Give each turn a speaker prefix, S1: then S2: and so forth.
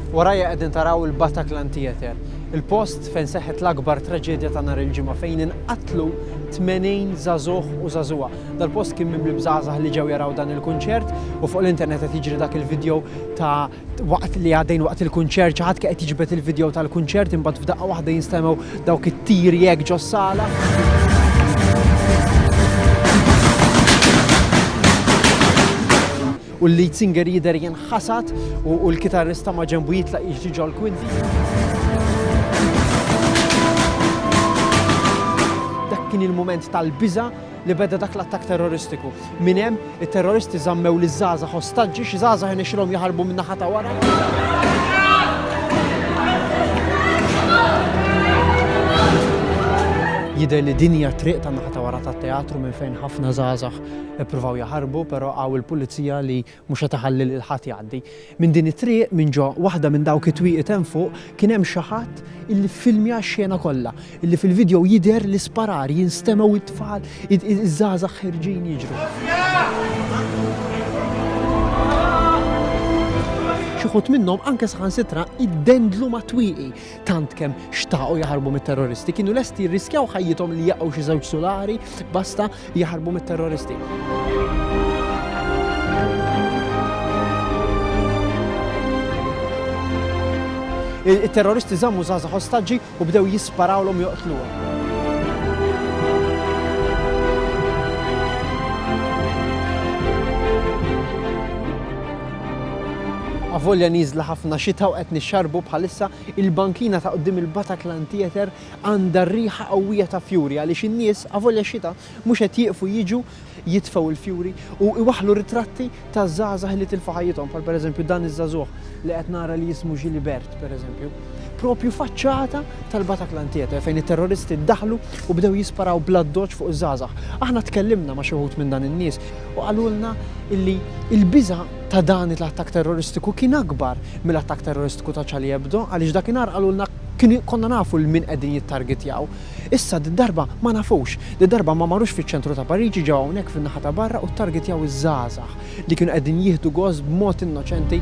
S1: Warajja qegħdin taraw il-Bataclan Theatre, il-post fejn seħħet l-akbar traġedja ta' nhar il-ġimgħa fejn inqatlu 80 żagħżugħ u żagħżugħa. Dal-post kien mimli bżgħażagħ li ġew jaraw dan il-kunċert u fuq l-internet qed jiġri dak il-video ta' Waqt li għaddejn waqt il-kunċert xi ħadd kien qed jiġbed il-video tal-kunċert imbagħad f'daqqa waħda jinstemgħu dawk it-tiri hekk ġos-sala. u l-lead singer jider jenħasat u l-kitarrista ma ġembu jitlaq jiġi ġol kwinti. Dak kien il-moment tal-biża li beda dak l-attakk terroristiku. Minn hemm, it-terroristi żammew liż-żgħażagħ ostaġġi, xi żgħażagħ irnexxilhom jaħarbu min-naħa ta' wara. Jidher li din hija triq ta' naħa ta' wara tat-teatru minn fejn ħafna żgħażagħ ippruvaw jaħarbu, però hawn il-pulizija li Mhux qed iħalli lil ħadd jgħaddi. Minn din it-triq, minn ġo waħda minn dawk it-twieqi hemm fuq, kien hemm xi ħadd illi ffilmja x-xena kollha, illi fil-vidjow jidher l-isparar, jinstemgħu it-tfal, iż-żgħażagħ ħerġin jiġru. Xi ħut minnhom anke saħansitra iddendlu mat-twieqi, tant kemm xtaqu jaħarbu mit-terroristi, kienu lesti jirriskjaw ħajjithom li jaqgħu xi żewġ sulari basta jaħarbu mit-terroristi. Il-terroristi żammu żaza ostaġġi u bdew jisparawlhom joqtluhom. Avolja nieżla ħafna xita u qed nixxarbu bħalissa, il-bankina ta' quddiem il-Bataclan Theatre għandha riħa qawwija ta' fjuri għaliex in-nies, avolja x-xita, mhux qed jieqfu jiġu jitfgħu l-fjuri u iwaħħlu ritratti ta' żgħażagħ li tilfu ħajjithom bħal pereżempju dan iż-żagħżugħ li qed nara li jismu Gilibert pereżempju. Propju faċċata tal-Bataclan Theatre fejn it-terroristi daħlu u bdew jisparaw bl-addoċċ fuq iż-żgħażagħ. Aħna tkellimna ma' xi wħud minn dan in-nies u qalulna illi l-biża' ta' dan il-attakk terroristiku kien akbar mill-attakk terroristiku ta' Charlie Hebdo għaliex dakinhar qalulna konna nafu 'l min qegħdin jittargetjaw. Issa did-darba ma nafux. Did-darba ma marux fiċ-ċentru ta' Pariġi ġew hawnhekk fin-naħa ta' barra u ttargetjaw iż-żgħażagħ li kienu qegħdin jieħdu gost b'mod innoċenti.